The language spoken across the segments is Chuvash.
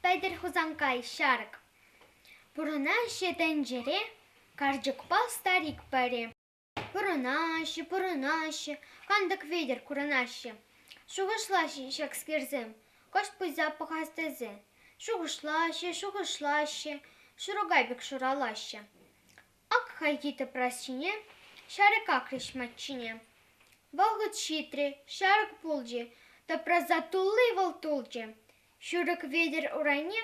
Пӗлтӗр Хусанкай ҫарӑк пурӑнаҫҫӗ тӗнчере, карчӑкпа старик пӗри. Пурӑнаҫҫӗ, пурӑнаҫҫӗ, кантӑк витӗр курӑнаҫҫӗ. Шухӑшлаҫҫӗ ҫакскерсем, кӑшт пуйса пӑхас тесе. Шухӑшлаҫҫӗ, шухӑшлаҫҫӗ, шурукай пек шуралаҫҫӗ. Ак хайхи тӑпрас ҫине ҫарӑк акрӗҫ маччине. Вӑхӑт ҫитрӗ, ҫарӑк пулчӗ, тӑпраса тулли вӑл тулчӗ. Ҫурӑк Ветӗр урайне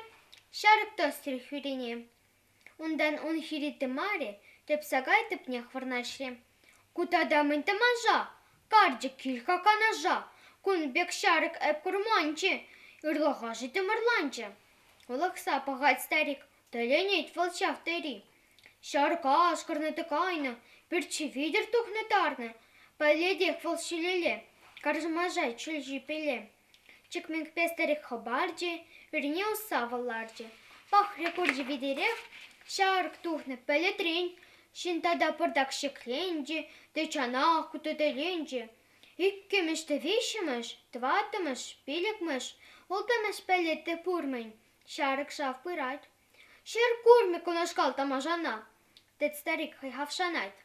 ҫарӑк тӑсрӗ хӳрине. Унтан ун хири тымарӗ тӗп сакай тӗпнех вырнаҫрӗ. Ку тата мӗн тӑманша? Карчӑк кил-ха канаша. Кун пек ҫарӑк эп курманчӗ, ырлӑхашӗ тымӑрланчӗ. Улӑхса пӑхать старик, Тӗлӗнет вӑл ҫав тери. Ҫарка ашкӑрнӑ-тӑк кайнӑ, пӳртҫи витӗр тухнӑ-тарнӑ. Пӗлетех вӑл ҫӳлелле, каршӑмаша чӳл ҫипелле. Чикменкпе старик хӑпарчӗ, ӳрне усса вӑл ларчӗ. Пахрӗ курчӗ витӗрех, ҫарӑк тухнӑ пӗлӗтрен. Ҫын тата пӑртак ҫӗкленчӗ те чанах кутӑтӗленчӗ. Иккӗмӗш те виҫҫӗмӗш, тӑваттӑмӗш, пилӗкмӗш, улттӑмӗш пӗлӗт те пур-мӗн. Ҫарӑк ҫав пырать. Ҫӗр курмӗ кунашкал тамашана, тет старик хӑйхавшанать.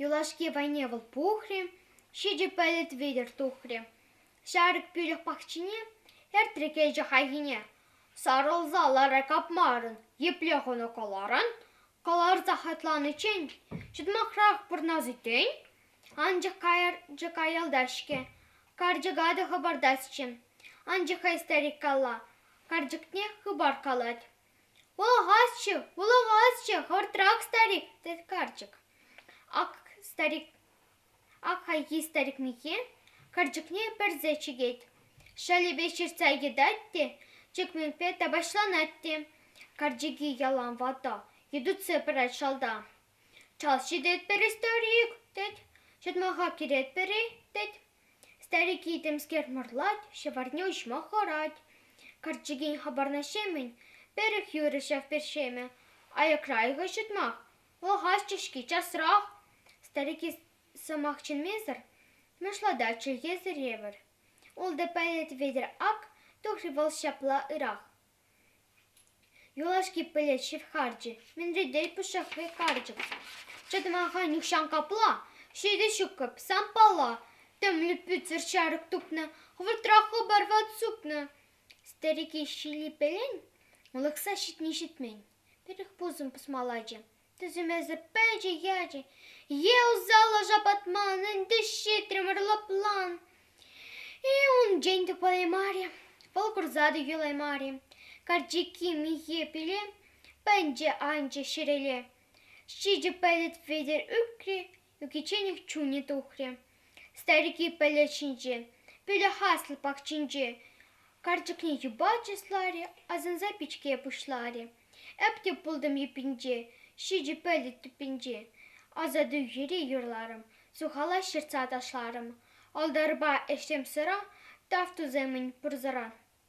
Юлашки вайне вӑл пухрӗ, ҫичӗ пӗлӗт витӗр тухрӗ. Ҫарӑк пӳлӗх пахчине эртрӗ килчӗ хайхине. Сарӑлса лара капмарӑн, епле хунӑ кӑларан, Кӑларса хӑтланиччен ҫӑтмахрах пурӑнас иккен, анчах карчӑк аялтах-ҫке. Карчӑка та хӑпартасчӗ. Анчах-ха старик калла, карчӑкне хыпар калать. «Вулӑхасчӗ, вулӑхасчӗ, хӑвӑртрах, старик!» тет карчӑк. Ак старик Ак хайхи старик миххе карчӑкне пӗрсе чикет. Шалӗпе ҫыртса йӑтать те чӗкмекпе тапаҫланать те. Карчӑкӗ ялан ватӑ, йӑтӑнса пырать шалта. Чал ҫитетпӗр-и, старик? тет. Ҫӑтмаха кӗретпӗр-и? тет. Старикӗ темскер мӑрлать, ҫӑварне уҫма хӑрать. Карчӑкӗн хыпарнӑҫемӗн пӗрех юрӗ ҫав першемӗ. Аякра-и-ха ҫӑтмах? Вӑхӑтчӗ-ҫке часрах! старики сӑмах чӗнмесӗр нушалатать чӗлхесӗр евӗр. Ултӑ пӗлӗт витӗр ак тухрӗ вӑл ҫапла ырах. Юлашки пӗлӗт ҫывхарчӗ, мӗнре тей пушшахри карчӑк. Чӑтмаха нихҫан капла, ҫитӗ ҫукӑп, сампала, тӗмлӗ пӳтсӗр ҫарӑк тупнӑ, хӑвӑртра хыпар ват супнӑ. Старики ҫилӗпелен вӑлӑхса ҫитни ҫитмен. Пӗрӗх пусӑм пӑсмаллачӗ. Тӗсӗмӗсӗ пӗчӗ ячӗ. Е усаллӑ шапатман, ӗнтӗ ҫитрӗмӗр лӑплан. И унччен те пулаймарӗ, вӑл курса та юлаймарӗ. Карчӑкки михе пиле пӗнче анчӗ ҫӗрелле. Ҫичӗ пӗлӗт Петӗр ӳкрӗ, Ӳкичченех чунӗ тухрӗ старики пӗлӗт ҫинче, пӗлӗт аслӑ пахчинче. Карчӑкне юпалчӗ слари, асӑнса пичке пуҫларӗ. Эп те пултӑм йӗппинче, ҫичӗ пӗлӗт тӗппинче. Асату йӗри юрларӑм, сухала ҫыртса ташларӑм. Алдарпа ӗҫсем сыра, тав тусемӗн пурсӑра.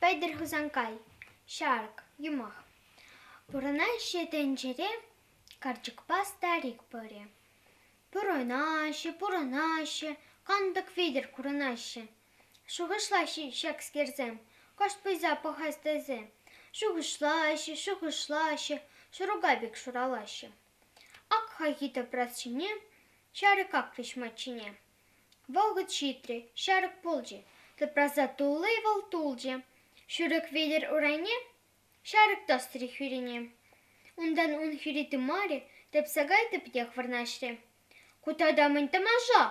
Пӗлтӗр Хусанкай, ҫарӑк, юмах. Пурӑнаҫҫӗ тӗнчере карчӑкпа старик пӑрӗ. Пурӑнаҫҫӗ, пурӑнаҫҫӗ, кантӑк витӗр курӑнаҫҫӗ. Шухӑшлаҫҫӗ ҫакскерсем, кӑшт пуйса пӑхас тесе. Шухӑшлаҫҫӗ, шухӑшлаҫҫӗ, шурупа пек шуралаҫҫӗ. Ак хайхи тӑпрас ҫине, ҫарӑк акрӗҫ маччине. Вӑхӑт ҫитрӗ, ҫарӑк пулчӗ. Тупраса тулли вӑл тулчӗ. Шурӑк витӗр урайне ҫарӑк тӑсрӗ хӳрине. Унтан ун хӳри тымарӗ тӗпсе кайнӑ пекех вырнаҫрӗ. Ку тата мӗн тамаша!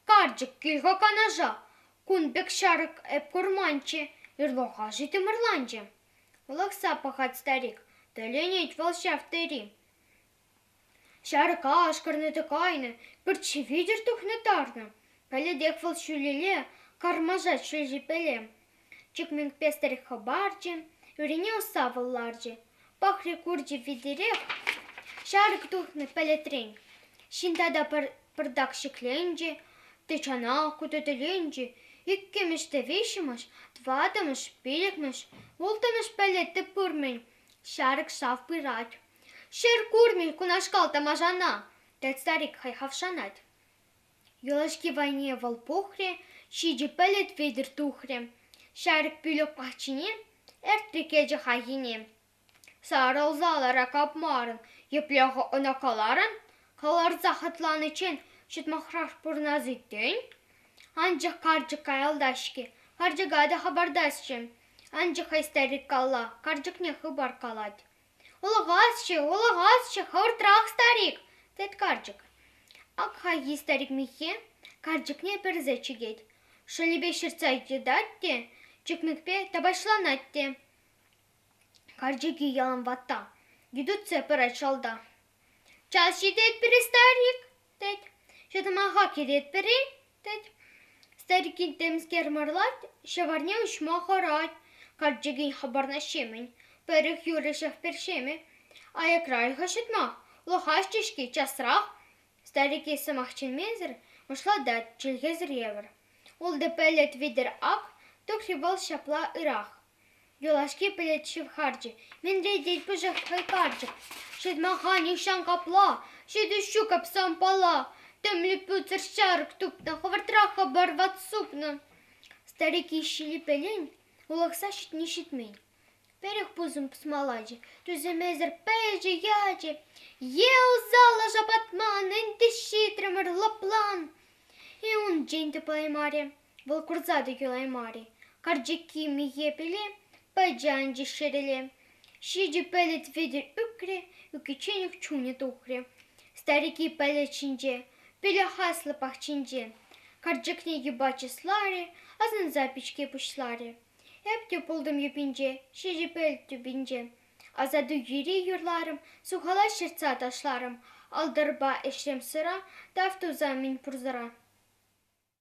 Карчӑк кил-ха канаша! Кун пек ҫарӑк эп курманччӗ, ырлӑха-ши тымӑрланчӗ. Вӑлахса пӑхать старик. Тӗлӗнет вӑл ҫав тери. Ҫар кашкӑрне те кайнӑ, пӳртҫи витӗр тухнӑ тарнӑ. Пӗлетех вӑл ҫӳлелле кармаша ҫӳлҫӗпеле. Чикмен пестӗрех хӑпарчӗ, ӳрине усавӑл ларчӗ. Пахри курчӗ витӗрех ҫарӑк тухнӑ пӗлӗтрен. Ҫын тата пӗр пӑртак ҫӗкленчӗ, тӑчана кутӑтӗленчӗ. Иккӗмӗш те виҫҫӗмӗш, тӑваттӑмӗш, пиллӗкмӗш, улттӑмӗш пӗлӗт те пур-мӗн. Ҫарӑк шав пырать. Ҫӗр курнӑ кунашкал тамашана, — тет старик хайхавшанать. Юлашки вайне вӑл пухрӗ, ҫичӗ пӗлӗт витӗр тухрӗ. Ҫарӑк пӳлӗк пахчине ӗртнӗ кӗчӗ хайхине. Сарӑлса лара капмарӑн, епле-ха ӑна каларӑн? Каларса хӑтланиччен ҫӑтмахрах пурӑнас-и-тен? Анчах карчӑк каялта-ҫке, карчӑка та хӑпартасчӗ. Анчах хай старик калла карчӑкне хыпар калать. Улӑхасчӗ, улӑхасчӗ, хӑвӑртрах, старик, тет карчӑк. Ак хайхи старик миххе карчӑкне персе чикет, шӑлӗпе ҫыртса йӑтать те чикмекпе тапаҫланать те. Карчӑкӗ ялан ватта, йытӑтса пырать шалта. Час ҫитет пире старик? тет. Ҫӑтӑмаха кӗретпӗр-и? тет. Старикин темскер марлать, ҫӑварне уҫма хӑрать. Карчӑкӗн хыпарнӑҫемӗн пӗрех юрӑҫах першемӗ. Аякра ыйха ҫутмах, лӑхаҫҫӗ-ҫке часрах. Старикей сӑмах чӗнмесӗр мӑшлатать чӗлхесӗр евӗр. Ултӑ пӗлӗт витӗр ак, тухрӗ вӑл ҫапла ырах. Юлашки пӗлӗт шыв харчӗ мӗнре тет пушах кӑйкарчӑк. Ҫырмаха нихҫан капла, ҫитӗҫ ҫу капса ампала. Тӗмлӗ пӳтсӗр ҫарӑк тупнӑ, хӑвӑртрах хыпар ват супнӑ. Старик ищи липелен улӑхса ҫитни ҫитмен. Пӗрех пусӑм пусмалачӗ тӳсӗмесӗр пӗчӗ ячӗ. Е усала шапатман, ӗнтӗ ҫитрӗмӗр лӑплан. И унччен те паймарӗ. Вӑл курса та юлаймарӗ. Карчӑкки михе пӗле пачӗ анчӗ ҫӗрелле. Ҫичӗ пӗлӗт витӗр ӳкрӗ, ӳкичченех чунӗ тухрӗ. Старики пӗлӗт ҫинче, пӗлех аслӑ пахчинче. Карчӑкне юпа чысларӗ, асӑнса пичке пуҫларӗ. Эп те пултӑм юпинче, ҫичӗ пӗлӗт тӳпинче. Асату йӗри юрларӑм, сухала ҫыртса ташларӑм. Алтӑрпа ӗҫрем сыра, тав туса мӗн пурсӑра.